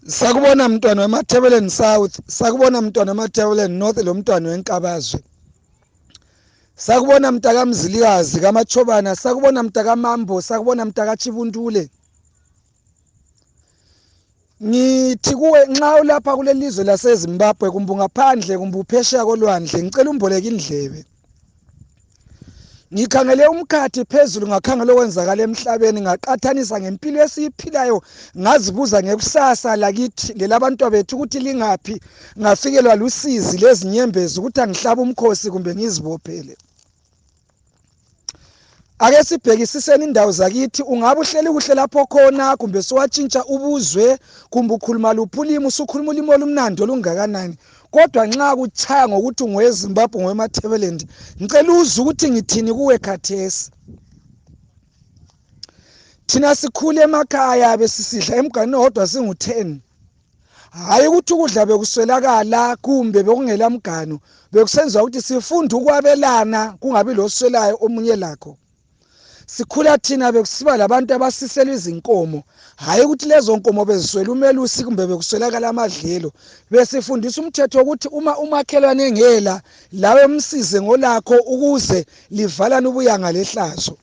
sakubona mntwana wemathebeleni south sakubona mntwana wemathebeleni north lo mntwana wenkabazwe sakubona mntakamzilikazi kamachobana sakubona mntakamambo sakubona mntakachibuntule ngithi kuwe nxa ulapha kulelizwe lasezimbabwe kumbe ungaphandle kumbe uphesheya kolwandle ngicela umboleke indlebe ngikhangele umkhathi phezulu ngakhangela okwenzakala emhlabeni ngaqathanisa ngempilo esiyiphilayo ngazibuza ngekusasa lakithi lelabantwa bethu ukuthi lingaphi ngafikelwa lusizi lezinyembezi ukuthi angihlabe umkhosi kumbe ngizibophele ake sibhekisiseni indawo zakithi ungabe uhleli kuhle lapho khona kumbe siwatshintsha ubuzwe kumbe ukhuluma luphi ulimi usukhuluma ulimi olumnandi olungakanani kodwa nxa kutshaya ngokuthi ungowezimbabwe ngowematableland ngicela uze ukuthi ngithini kuwe khathesi thina sikhule emakhaya besisidla emganini owodwa singu-ten hhayi ukuthi ukudla bekuswelakala kumbe bekungela mganu bekusenziwa ukuthi sifunde ukwabelana kungabi loswelayo omunye lakho sikhula thina bekusiba labantu abasisela izinkomo hhayi ukuthi lezo nkomo beziswela umelusi kumbe bekuswelakala amadlelo besifundisa umthetho wokuthi uma umakhelwane engela lawe msize ngolakho ukuze livalane ubuyanga lehlazo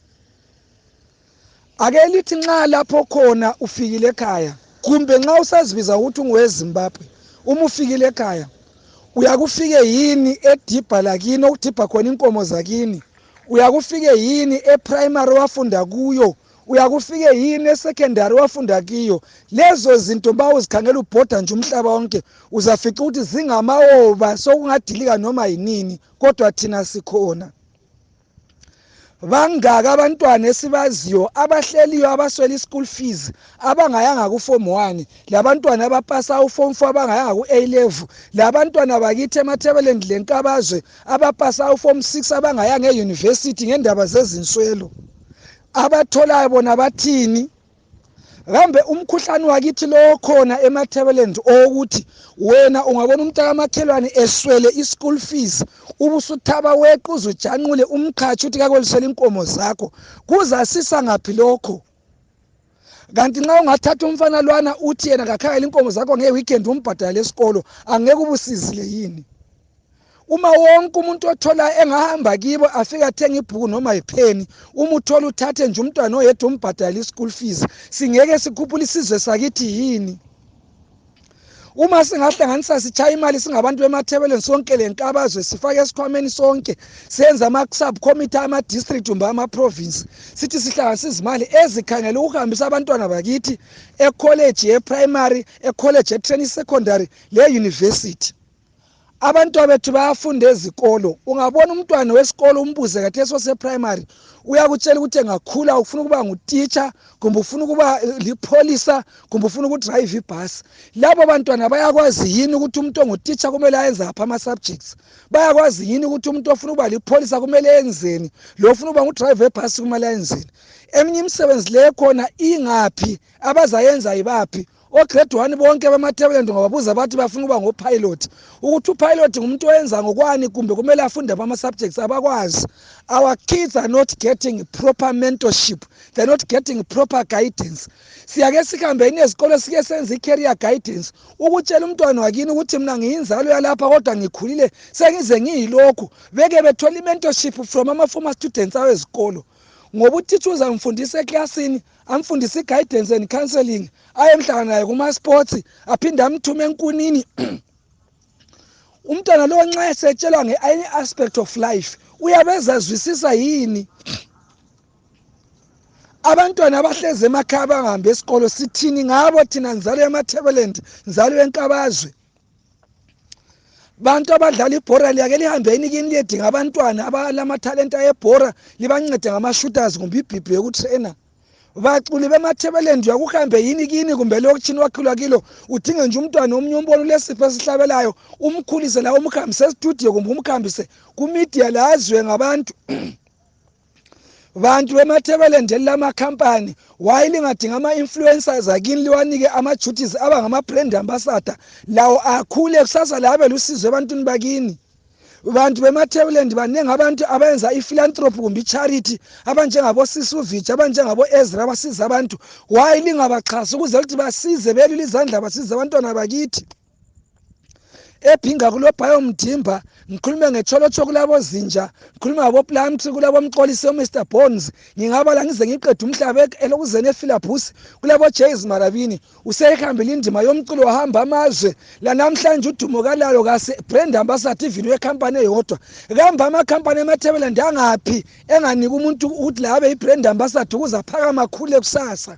ake lithi nxa lapho khona ufikile ekhaya kumbe nxa usazibiza ukuthi ungowezimbabwe uma ufikile ekhaya uyakufike yini edibha lakini okudibha khona inkomo zakini uyakufike yini eprimary wafunda kuyo uyakufike yini esecondary wafunda kiyo lezo zinto ba uzikhangela ubhoda nje umhlaba wonke uzafica ukuthi zingamawoba sokungadilika noma yinini kodwa thina sikhona bangaka abantwana esibaziyo abahleliyo abaswela i-school fees abangayanga ku-form one labantwana abapasa u-form four abangayanga ku-a level labantwana bakithi emathebeleni lenkabazwe abapasa u-form six abangayanga eyunivesithi ngendaba zezinswelo abatholayo bona bathini kambe umkhuhlane wakithi lo khona emathebelend owokuthi wena ungabona umntakamakhelwane eswele i-school fees ubusuthaba weqe uzujanqule umqhatshi ukuthi kakolisele inkomo zakho kuzasisa ngaphi lokho kanti nxa ungathatha umfana lwana uthi yena kakhangela inkomo zakho ngeweekend umbhadala lesikolo angeke ubusizile yini uma wonke umuntu othola engahamba kibo afike athenga ibhuku noma yipheni uma uthola uthathe nje umntwana oyedwa umbhadala i-school fees singeke sikhuphula isizwe sakithi yini uma singahlanganisa sitshaya imali singabantu bemathebeleni sonke le nkabazwe sifake esikhwameni sonke senze ama-subcommittee ama-district kumbe ama-province sithi sihlanganisa izimali ezikhangela ukuhambisa abantwana bakithi ekholeji ye-primary ekholeji ye-training secondary le-university abantwabethu bayafunda ezikolo ungabona umntwana wesikolo umbuze kathesi oseprimary uyakutshela ukuthi engakhula ufuna ukuba ngutitsha kumbe ufuna ukuba eh, lipholisa kumbe ufuna ukudrayiva ibhasi labo bantwana bayakwazi yini ukuthi umuntu ongutitsha kumele ayenze aphi ama-subjects bayakwazi yini ukuthi umuntu ofuna ukuba lipholisa kumele enzeni lo ofuna ukuba ngudrayiva ebhasi kumele ayenzeni eminye imisebenzi leyo khona ingaphi abazayenza yibaphi ograde one bonke bamatabelent ngababuza bathi bafuna ukuba ngopilot ukuthi upilot ngumuntu oyenza ngokwani kumbe kumele afunde bama-subjects abakwazi our kids are not getting proper mentorship they're not getting proper guidance siyake sihambe yini ezikolo sike senza i-carrier guidance ukutshela umntwana wakini ukuthi mina ngiyinzalo yalapha kodwa ngikhulile sengize ngiyilokhu beke bethole i-mentorship from ama-former students awezikolo ngoba utitsha uzangifundisa eklasini amfundisa i-guidance and counseling ayemhlangana naye kuma-sports aphinde amthume enkunini umntwana lowo nxa esetshelwa nge-any aspect of life uyabe ezazwisisa yini abantwana abahlezi emakhaya bangahambi esikolo sithini ngabo thina nzalo yamathebeland nzalo yenkabazwe bantu abadlala ibhora liyake lihambe yini kini liyedinga abantwana abalamathalenta ebhora libancede ngama-shooters kumbe ibhibhi yokutrena baculi bemathebeleni uyakuhambe yini kini kumbe lokutshini wakhulwa kilo udinge nje umntwana omunye umbona ulesipho esihlabelayo umkhulise la umhambise estudio kumbe umhambise kumidia la azwe ngabantu bantu bemathebeleni leli lamakhampani waye lingadinga ama-influencers akini liwanike ama-duties aba ngama-brand ambassador lawo akhule kusasa la abe lusizo ebantwini bakini bantu bemathebeleni baningi abantu abenza i-philanthropy kumbe i-charity abanjengabosisuvich abanjengabo-ezra abasiza abantu waye lingabaxhasi ukuze ukuthi basize belule izandla basize abantwana bakithi ebhinga kulobhayo mdimba ngikhulume ngecholotsho kulabozinja ngikhulume ngaboplamtri kulabomxolisi omr bones ngingabala ngize ngiqeda umhlaba elokuzeni efilabhus kulabojays marabini useyihambile indima yomculo wahamba amazwe lanamhlanje udumo kalalo kase brand ambassador ivini wekhampani eyodwa kambe amakhampani emathebela ndangaphi enganika umuntu ukuthi labe ibrand ambassador ukuze aphakamakhulu ekusasa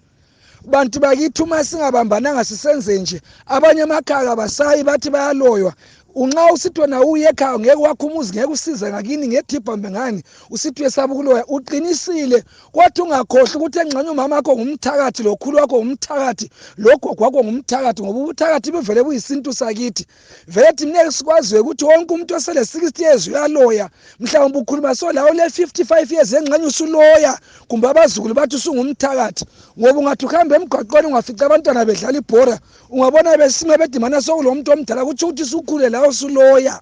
bantu bakithi uma singabambananga sisenze nje abanye amakhaya kabasayi bathi bayaloywa unxa usithi wena uye ekhaya ngeke wakho umuzi ngeke usize ngakini ngethipha mbe ngani usithi uyesaba ukuloya uqinisile kwathi ungakhohlwa ukuthi engxenye umama wakho ngumthakathi lokhulu wakho ngumthakathi logogo wakho ngumthakathi ngoba ubuthakathi buvele buyisintu sakithi vele thina ngeke sikwazi ukuthi wonke umuntu osele 60 years uyaloya mhlawumbe ukhuluma so lawo le 55 years engxenye usuloya kumbe abazukulu bathi usungumthakathi ngoba ungathi uhambe emgwaqweni ungafica abantwana bedlala ibhora ungabona besime bedimana sokulomuntu omdala kutsho ukuthi sukhule lawo suloya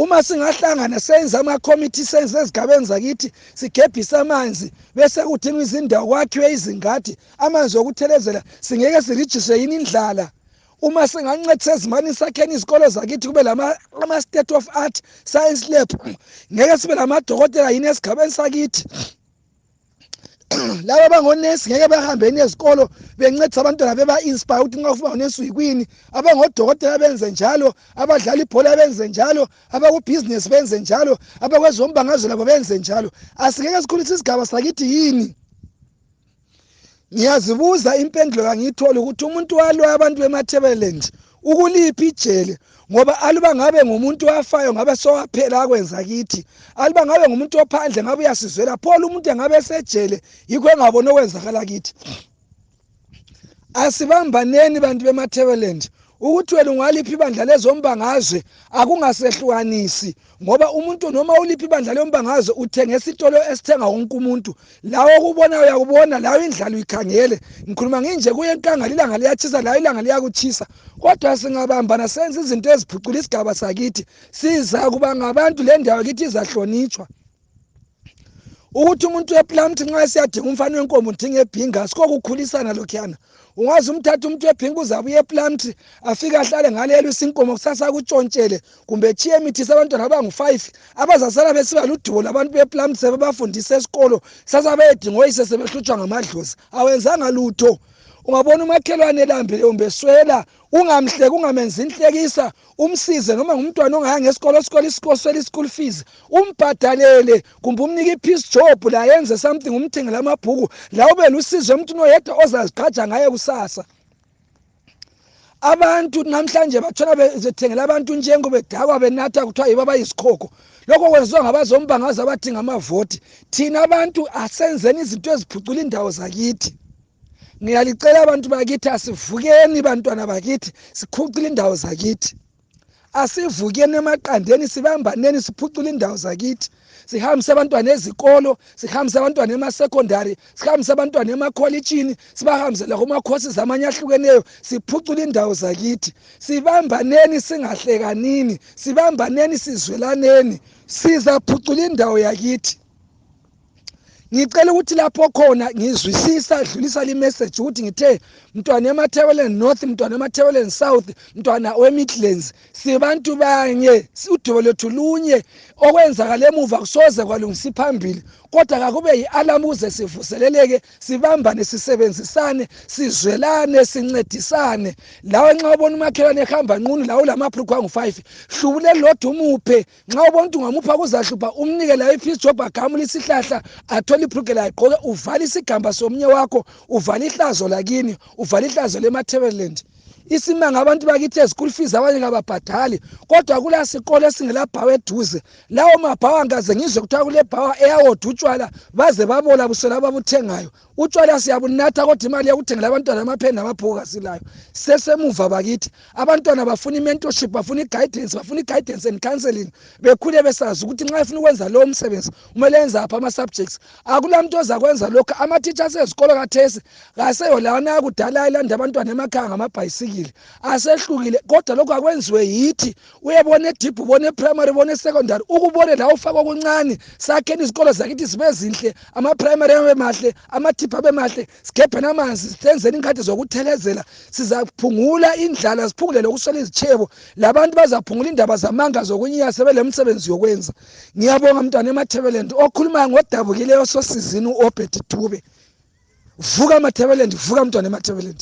uma singahlangana senze amakhomithi senze ezigabeni zakithi sigebhise amanzi bese kudingwa izindawo kwakhiwe izingadi amanzi okuthelezela singeke sirijiswe yini indlala uma singancedisa ezimani sakheni izikolo zakithi kube lama-state of art science lab ngeke sibe lamadokotela yini esigabeni sakithi laba bangonesi ngeke bahambe ni ezikolo bencedisa abantwana beba-inspire ukuthi nxa ufuna ngonesi uyikwini abangodokotela benze njalo abadlala ibhola benze njalo abakubhizinesi benze njalo abakwezombangazwe labo benze njalo asingeke sikhulise isigaba sakithi yini ngiyazibuza impendulo kangiyitholi ukuthi umuntu walwa abantu bemathebeleni ukuliphi ijele ngoba aluba ngabe ngumuntu wafayo ngabe sowaphela akwenza kithi aluba ngabe ngumuntu ophandle ngabe uyasizwela phola umuntu engabe esejele yikho engaboni okwenzakala kithi asibambaneni bantu bemathebeleni ukuthi wena ungaliphi ibandla lezombangazwe akungasehlukanisi ngoba umuntu noma uliphi ibandla leyombangazo uthenga esitolo esithenga wonke umuntu lawo okubona uyakubona lawo indlala uyikhangele ngikhuluma nginje kuye enkangala ilanga liyatshisa lawo ilanga liyakutshisa kodwa singabambana senza izinto eziphucula isigaba sakithi siza kuba ngabantu le ndawo kithi izahlonitshwa ukuthi umuntu weplant nxa esiyadinga umfana wenkomo udinga ebhinga sikokukhulisana lokhuyana ungaze umthathe umuntu webhinga uzabuye eplant afike ahlale ngalelo isinkomo kusasa kutshontshele kumbe tshiye emithise abantwana abangu-five abazasala besiba ludubo labantu beplant sebebafundisa esikolo sasa beyedinga oyise sebehlutshwa ngamadlozi awenzanga lutho ungabona umakhelwane elambile kumbe swela ungamhleki ungamenzi inhlekisa umsize noma ngumntwana ongayanga esikolo esikole isikosela i-school fees umbhadalele kumbe umnike i-peace job la yenze something umthengele amabhuku la ube lusizo emntwini oyedwa ozazigqaja ngaye kusasa abantu namhlanje bathola bethengela abantu njengo bedakwa benatha kuthiwa yibo abayisikhokho lokho kwenziwa ngabazombangaza abathi ngamavoti thina abantu asenzeni izinto eziphucula indawo zakithi ngiyalicela abantu bakithi asivukeni bantwana bakithi sikhucile indawo zakithi asivukeni emaqandeni sibambaneni siphucule indawo zakithi sihambise abantwana ezikolo sihambise abantwana emasecondary sihambise abantwana emakholitshini sibahambise lakumakhosi zamanye ahlukeneyo siphucule indawo zakithi sibambaneni singahlekanini sibambaneni sizwelaneni sizaphucula indawo yakithi ngicela ukuthi lapho khona ngizwisisa dlulisa limessage ukuthi ngithe mntwana emathebeleni north mntwana emathebeleni south mntwana wemidlands sibantu banye udubo lwethu lunye okwenzakala emuva kusoze kwalungisa phambili kodwa kakube yi-alamu ukuze sivuseleleke sibambane sisebenzisane sizwelane sincedisane lawe nxa ubona umakhelwane ehamba nqunu lawe ulamaphrukhwa angu-five hlubulelodwa umuphe nxa ubona ukuthi ungamupha kuzahlupha umnike layo ifisi jobha agamule isihlahla athole ibrugela agqoke uvale isigamba somunye wakho uvale ihlazo lakini uvale ihlazo lematabeleland isimanga abantu bakithi ezikulu fees abanye kababhadali kodwa kula sikolo esingelabhawa eduze lawo mabhawa ngikaze ngizwe kuthiwa kulebhawa eyawodwa utshwala baze babola busela ababuthengayo utshwala siyabunatha kodwa imali yokuthengela abantwana amapheni namabhuku kasilayo sesemuva bakithi abantwana bafuna i-mentorship bafuna i-guidance bafuna i-guidance and counseling bekhule besazi ukuthi nxa efuna ukwenza lowo msebenzi kumele enze aphi ama-subjects akula mntu ozakwenza lokho ama-teacher asezikolo kathesi kaseyo lawana yakudala ayelanda abantwana emakhaya ngamabhayisikile asehlukile kodwa lokho akwenziwe yithi uyabona edip ubona eprimary ubona esecondary ukubone la ufaka okuncane sakheni izikolo zakithi zibe zinhle amaprimary abe mahle amathiphu abe mahle sigebheni amanzi senzeni inkhathi zokuthelezela sizaphungula indlala siphungule lokuswela izitshebo labantu bazaphungula indaba zamanga zokunyiya sebelemsebenzi yokwenza ngiyabonga mntwana emathebelend okhulumayo ngodabukileyo sosizini u-obed tube vuka mathebelend vuka mntwana emathebelend